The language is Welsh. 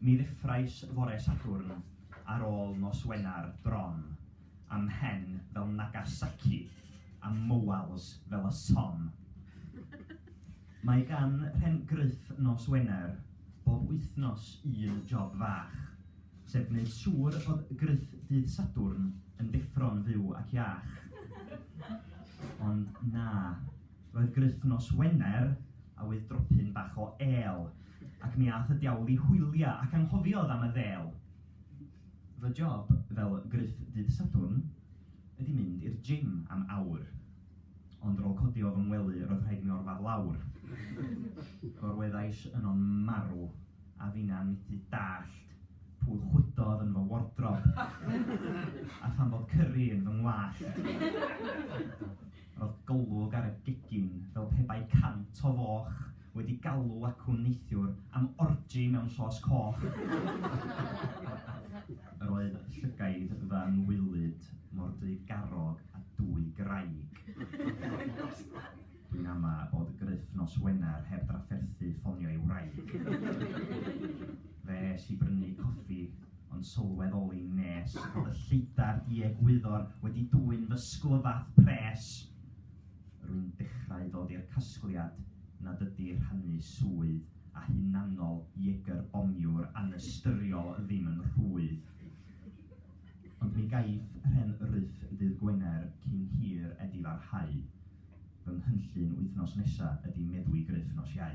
Mi ddeffrais fore Sadwrn ar ôl nos Wener bron, a mhen fel Nagasaki a mywals fel y Somme. Mae gan Rhen Gruff nos Wener bob wythnos un job fach, sef gwneud siŵr bod Gruff dydd Sadwrn yn deffro'n fyw ac iach. Ond na. Roedd Gruff nos Wener a oedd dropyn bach o êl, ac mi a'th y diawl i hwylia ac anghofiodd am y ddêl. Fy job fel Gruff dydd Sadwrn ydi mynd i'r gym am awr, ond rôl codi o fy ngwely roedd rhaid mi orfadd lawr. Gorweddais yno'n marw, a finna'n mythu dallt pwy chwydodd yn fy wardrob, a pham fod cyrri yn fy ngwallt. Roedd golwg ar y gegin fel pe bai cant o foch wedi galw acw neithiwr am orgy mewn llos coch. Yr oedd llygaid fy ngwylyd mor drygarog a dwy graig. Dwi'n ama bod Gruff nos Wener heb drafferthu ffonio ei wraig. Fe es i brynu coffi ond sylweddoli nes fod y lleidar i egwyddor wedi dwyn fy sglyfath pres. Rwy'n dechrau dod i'r casgliad nad ydy rhannu swydd a hunanol Jaeger Bommiwr anystyriol ddim yn rhwydd. Ond mi gaiff rhen ryff ddydd Gwener cyn hir edifarhau. Fy nghynllun wythnos nesa ydi meddwi gruff nos Iau.